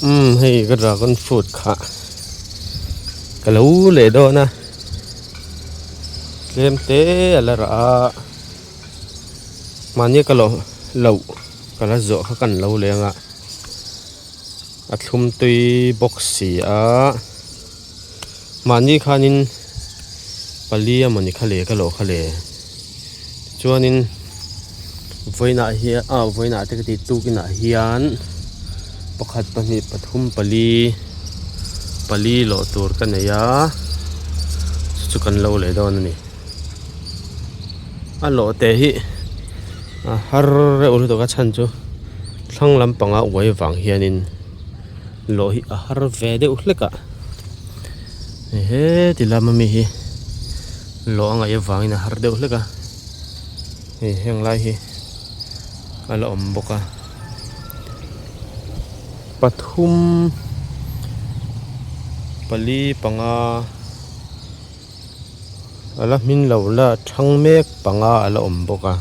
Umm hei ka dragon fruit kha ka lo leh dawn a tlem te a la rah a mahni ka lo loh ka la zawh kha kan lo leng a a thlum tui bawk si a. Mahni khanin pali a mawni kha leh ka lawh kha leh chuanin vawiinah hian a vawiinah te ka tih tukinah hian pakhat pahnih pathum pali pali lawh tur ka nei a chu chu kan lo leh dawn a ni a lawh teh hi har reuh lutuk a chhan chu thlang lampanga uai vang hianin. Loh hi a har ve deuh hlek a, hei he ti lama mi hi loh a ngaih avangin a har deuh hlek a, hei heng lai hi a la awm bawk a, pathum, pali, panga a la hmin loh la a chhang mek panga a la awm bawk a.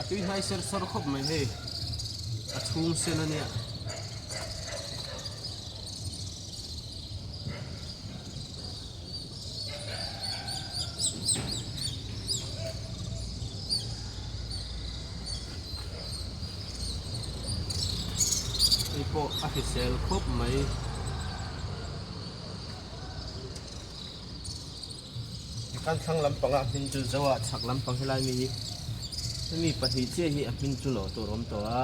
a tui hnai ser ser khawp mai hei a chhung sen ania Hei pawh a hrisel khawp mai. Kan thlang lampang a hming chu Zoa chhak lampang helai mi hi hemi pahnih chiah hi a hming chu lawh tur awm tawh a.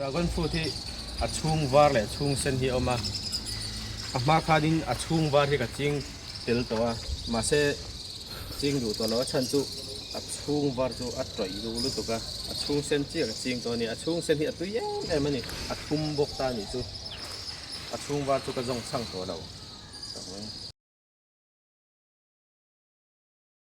Dragon fruit hi a chhung var leh chhung sen hi a awm a, a hma khanin a chhung var hi ka ching tel tawh a, mahse ching duh tawh lo a chhan chu a chhung var chu a tawih duh lutuk a, a chhung sen chiah ka ching tawh a ni, a chhung sen hi a tui em em a ni, a thum bawk ta nih chu, a chhung var chu ka zawng chhang tawh lo.